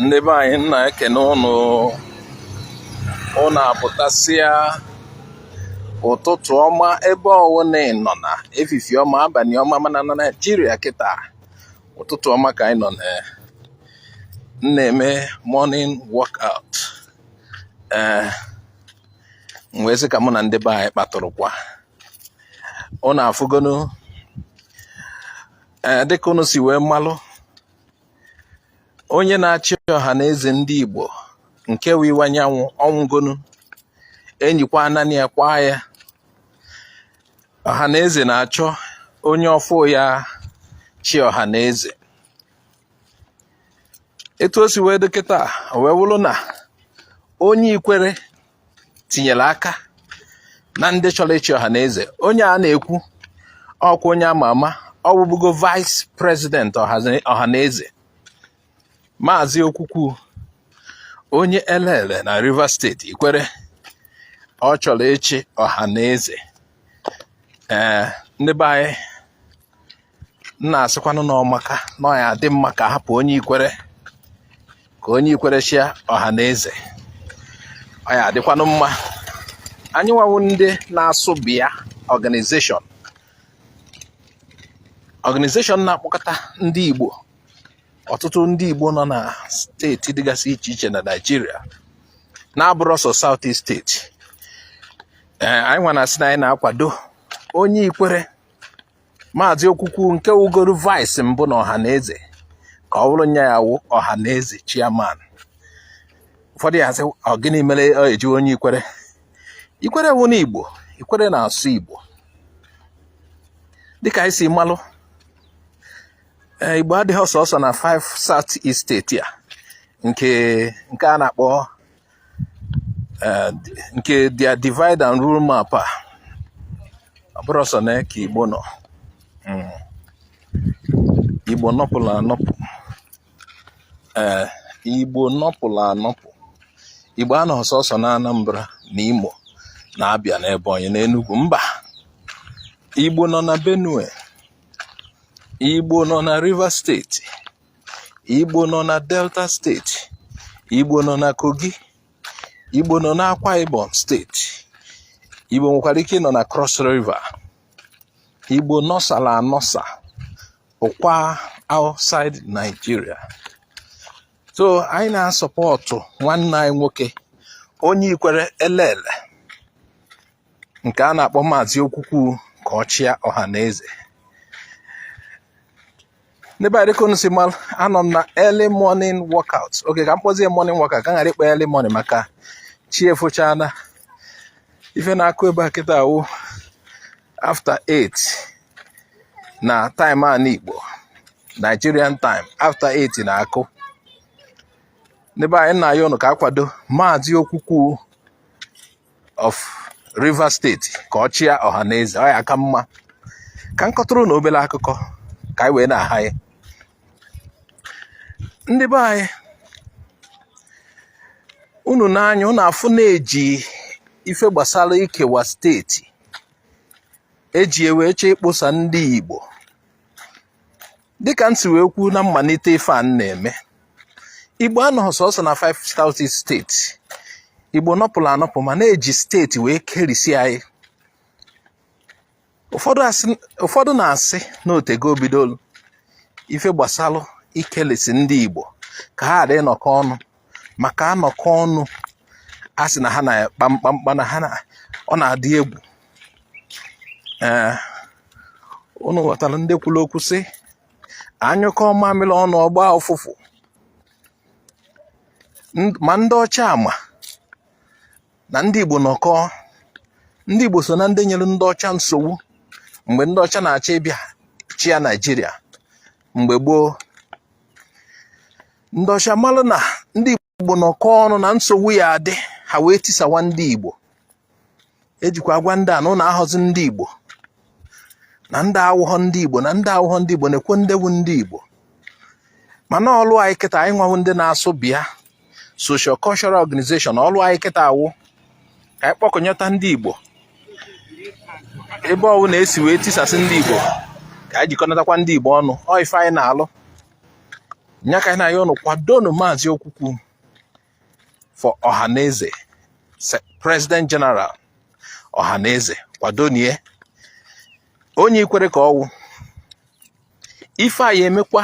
ndị be anyị m na-ekene ụnụ ụnụ apụtasịa ụtụtụ ọma ebe ọwụna ị nọ na efifi ọma abanị ọma mana na naijiria kịta ụtụtụ ọma ka anyị nọ na m na-eme morning workout ee m wee sị ka mụ na ndị be anyị kpatụrụkwa ụnụ afụgonu ee dịka ụnụ si wee malụ onye na-achị ọha na eze ndị Igbo nke wụ Iwuanyanwụ ọ nwụgonu enyikwa ananị ya kwaa ya ọha na eze na-achọ onye ọfụụ ya-achị ọha na eze etu o si wee dị kịta wee wụrụ na onye ikwere tinyere aka na ndị chọrọ ịchị ọha na eze onye a na-ekwu ọkwa onye ama ama ọ wụbugo vice president ọha na eze maazị okwukwu onye elele na rivers steeti ikwere ọ chọrọ ịchị ọha na eze ee eh, ndị be anyị m na-asịkwanụ na ọ maka na ọ ya-adị mma ka hapụ onye ikwere ka onye ikwere chịa ọha na eze ọ ya-adịkwanụ mma anyị nwa wụ ndị na-asụ bịa organization organization na-akpọkọta ndị Igbo ọtụtụ ndị Igbo nọ na steeti dịgasị iche iche na Naịjirịa na-abụrọ sọ South East steeti ee anyị nwa na-asị na anyị na-akwado onye ikwere maazị okwukwu nke wụgoro vice mbụ na ọha na eze ka ọ wụrụ nya ya-awụ ọha na eze chairman ụfọdụ ya-asị ọ gịnị mere e ji onye ikwere ikwere wụnụ igbo ikwere na-asụ igbo dịka anyị si malụ eh, igbo adịhọ sọsọ na 5 south east steeti a nke nke a na-akpọ eh, nke their divide and rule map a ọ bụrọ sọ nya ka igbo nọ hmm. igbo nọpụrụ anọpụ ee eh, igbo nọpụrụ anọpụ igbo anọhọ sọsọ na anambra na imo na Abia na ebonyi na enugu mba igbo nọ na benue Igbo nọ na Rivers steeti Igbo nọ na Delta steeti Igbo nọ na Kogi Igbo nọ na Akwa Ibom steeti Igbo nwekwara ike nọ na Cross River Igbo nọsala anọsa ụkwa outside Nigeria so anyị na-asọpọtụ nwanne anyị nwoke onye ikwere elele nke a na-akpọ Maazị Okwukwu ka ọ chịa Ọhaneze n'ebe a dịka unu si malụ anọ m na early morning workout okay ka m kpọzie morning workout ka m ghara ịkpọ early morning maka chi efochana ife na-akụ ebe a kịta awụ after 8 na time anị Igbo Nigerian time after 8 na-akụ n'ebe anyị na-ayọ unu ka a kwado Maazị Okwukwu of Rivers steeti ka ọ chịa Ọhaneze ọ ya-aka mma ka m kọtụrụ unu obere akụkọ ka anyị wee na-aha ya ndị be anyị unu n'anya unu afụ na e ji ife gbasara ikewa steeti e ji wee chọọ ikposa ndị Igbo dịka m si wee kwuo na mmalite ife a na-eme igbo anọghị sọsọ na 5 South East steeti igbo nọpụrụ anọpụ mana e ji steeti wee kerisi anyị ụfọdụ na-asị na o teego o bidolu ife gbasalụ ikelisi ndị igbo ka ha ghara ịnọkọ ọnụ maka a nọkọ ọnụ a sị na ha na-akpa mkpamkpa na ha ọ na-adị egwu ee unu ghọtara ndị kwuru okwu sị a nyụkọọ mamịrị ọnụ ọ gbaa ụfụfụ ma ndị ọcha ama na ndị Igbo nọkọ ndị Igbo so na ndị nyere ndị ọcha nsogbu mgbe ndị ọcha na-achọ ịbịa chịa Naijiria mgbe gboo ndị ọcha malụ na ndị Igbo nọkọ ọnụ na nsogbu ya-adị ha wee tisawa ndị Igbo e jikwa agwa ndị a na unu awụghọzi ndị Igbo na ndị awụghọ ndị Igbo na ndị awụghọ ndị Igbo na-ekwe ndewu ndị Igbo mana ọlụ anyị kịta anyị nwa wụ ndị na-asụ bịa social cultural organization ọlụ anyị kịta awụ ka anyị kpọkọnyeta ndị Igbo ebe ọwụna e si wee tisasị ndị Igbo ka anyị jikọnatakwa ndị Igbo ọnụ ọ ife anyị na-alụ nya ka anyị na-ayọ unu kwadonu Maazị Okwukwu for ọhaneze president general ọhaneze kwadonu ya onye Ikwere ka ọ wụ ife a ya-emekwa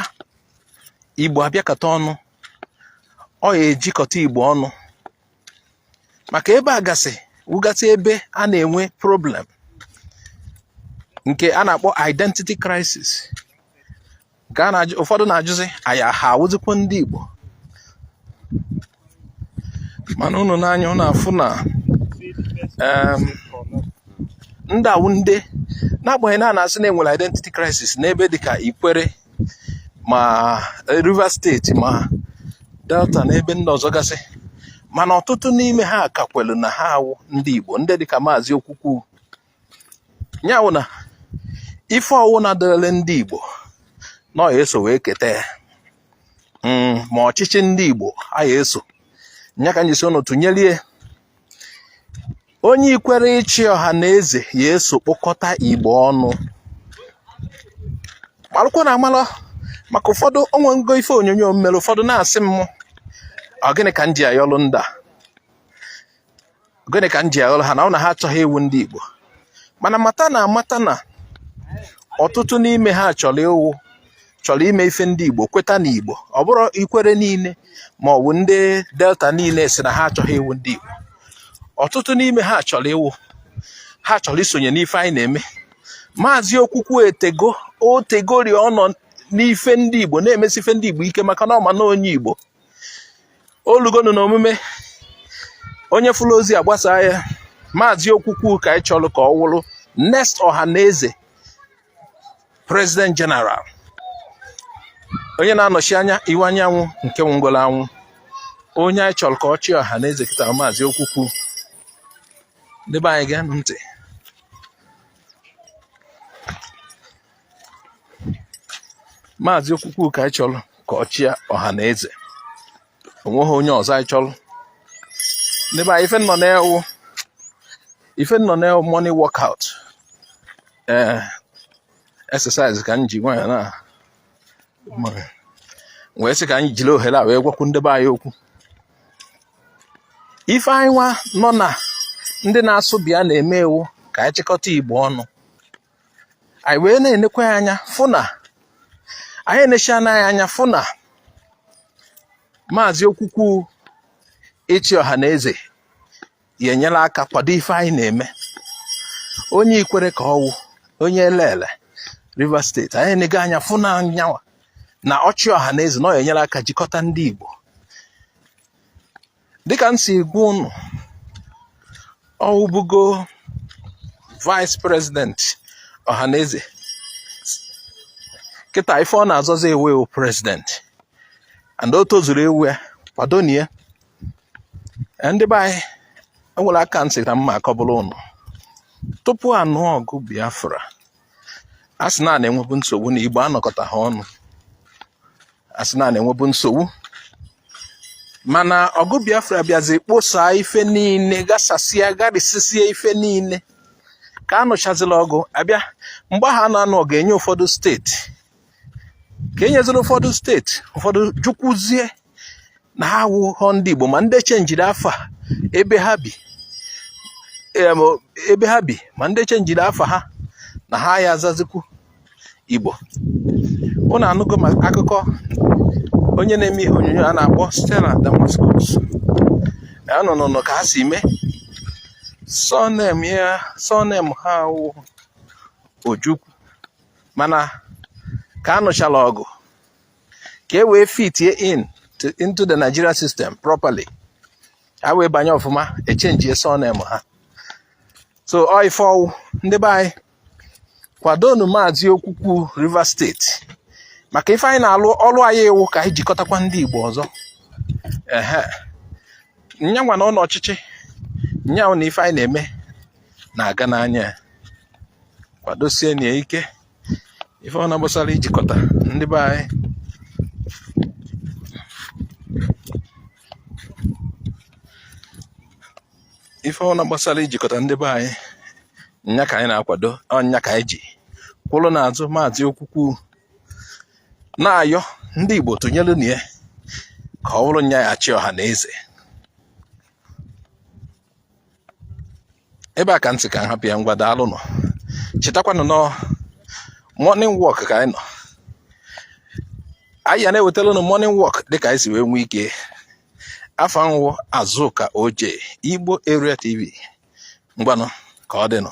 igbo abịakọta ọnụ ọ ya-ejikọta igbo ọnụ maka ebe a gasị wụgasị ebe a na-enwe problem nke a na-akpọ identity crisis ka a na-ajụ ụfọdụ na-ajụzi aya ha awụzikwa ndị Igbo mana unu nee anya unu afụ na ndị a wụ ndị n'agbanyeghị na a na-asị na enwere identity crisis n'ebe dịka Ikwere ma eh, Rivers steeti ma Delta na ebe ndị ọzọ gasị mana ọtụtụ n'ime ha ka kwelu na ha wụ ndị Igbo ndị dịka maazị Okwukwu ya wụ na ife ọwụna dịịrị ndị Igbo na ọ ya-eso wee keta ya hmm, ma ọchịchị ndị Igbo a ya-eso nya ka m ji sị unu tụnyelie onye ikwere ịchị ọha na eze ya-eso kpọkọta Igbo ọnụ malụkwa na amalụ maka ụfọdụ o nwego ife onyonyo m mere ụfọdụ na-asị m ọ gịnị ka m ji ayọlụ ndị a gịnị ka m ji ayọlụ ha na ọ na ha achọghị ịwụ ndị Igbo mana mata na amata na ọtụtụ n'ime ha chọrọ ịwụ chọrọ ime ife ndị Igbo kweta na Igbo ọ bụrọ Ikwere niile ma ọ bụ ndị Delta niile sị na ha achọghị ịwụ ndị Igbo ọtụtụ n'ime ha chọrọ ịwụ ha chọrọ isonye n'ife anyị na-eme maazị okwukwu etego o tegori ọ nọ n'ife ndị Igbo na-emesi ife ndị Igbo ike maka na ọ ma na onye Igbo o lugonu na omume onye fụlụ ozi a gbasaa ya maazị okwukwu ka anyị chọrọ ka ọ wụrụ next ọha na eze president general onye na-anọchi anya Iwuanyanwụ nke nwụgoro anwụ onye anyị chọrọ ka ọ chịa ọha na eze kịta maazị okwukwu ndị be anyị geenụ ntị maazị okwukwu ka anyị chọrọ ka ọ chịa ọha na eze onweghị onye ọzọ anyị chọrọ ndebe anyị ife m nọ na ya wụ ife m nọ na ya wụ morning workout ee eh, exercise ka m ji nwanyị na wee sị ka anyị jiri ohere a wee gwakwu ndebe anyị okwu ife anyị nwa nọ na ndị na-asụ bịa na-eme wụ ka anyị chịkọta igbo ọnụ anyị wee na-enekwa ya anya fụ na anyị enechiena anya fụ na maazị okwukwu ịchị ọha na eze ya-enyere aka kwado ife anyị na-eme onye Ikwere ka ọ wụ onye Elele Rivers steeti anyị enego anya fụ na nyanwa na ọ chịa ọha na eze na ọ ya-enyere aka jikọta ndị Igbo dịka m si gwa unu ọwụbugo vice president ọhaneze kịta ife ọ na-azọzi ịwụ president and o tozuru ịwụ ya kwadonụ ya ndị be anyị enwere aka nsị na mma akọbụla ụnụ tupu anụọ ọgụ biafra a sị na a na-enwebu nsogbu na igbo anọkọtahọ ọnụ a sị na a na-enwebu nsogbu mana ọgụ biafra bịazi kposaa ife niile gasasịa garisisie ife niile ka a nụchazila ọgụ abịa mgbe ahụ a na-anụ ọgụ enye ụfọdụ steeti ka enyezila ụfọdụ steeti ụfọdụ jukwuzie na ha awụghọ ndị Igbo ma ndị chenjiri afa ebe ha bi ma ndị chenjiri afa ha na ha ya azazikwu Igbo unu anụgo ma akụkọ onye na-eme ihe onyonyo a na-akpọ Stella Damasus nnụnụ ka ha si mee surname ha wụ Ojukwu mana ka anụchala ọgụ ka e wee fitie into the Nigeria system properly ha wee banye ọfụma echenjie surname ha so ọ ife ọwụ ndị be anyị kwadonụ maazị okwukwu Rivers steeti maka ife anyị na-alụ ọrụ anyị wụ ka anyị jikọtakwa ndị Igbo ọzọ ehe nyanwa na ụlọ ọchịchị nya wụ na ife anyị na-eme na-aga n'anya kwadosienụ ya ike ife ọwụna gbasara ijikọta ndị be anyị ife ọwụna gbasara ijikọta ndị be anyị nya ka anyị na-akwado ọ nya ka anyị ji kwụrụ n'azụ maazị okwukwu na-ayọ ndị Igbo tụnyerenụ ya ka ọ bụrụ nya ya-achị ọhaneze ebe a ka nsị ka nhapụ ya ngwa daalụnụ chetakwanụ na ọ morning walk ka anyị nọ anyị ya na-ewetara ụnụ morning walk dịka anyị si wee nwee ike afa nwụ Azụka Oje Igbo Area TV ngwanụ ka ọ dịnụ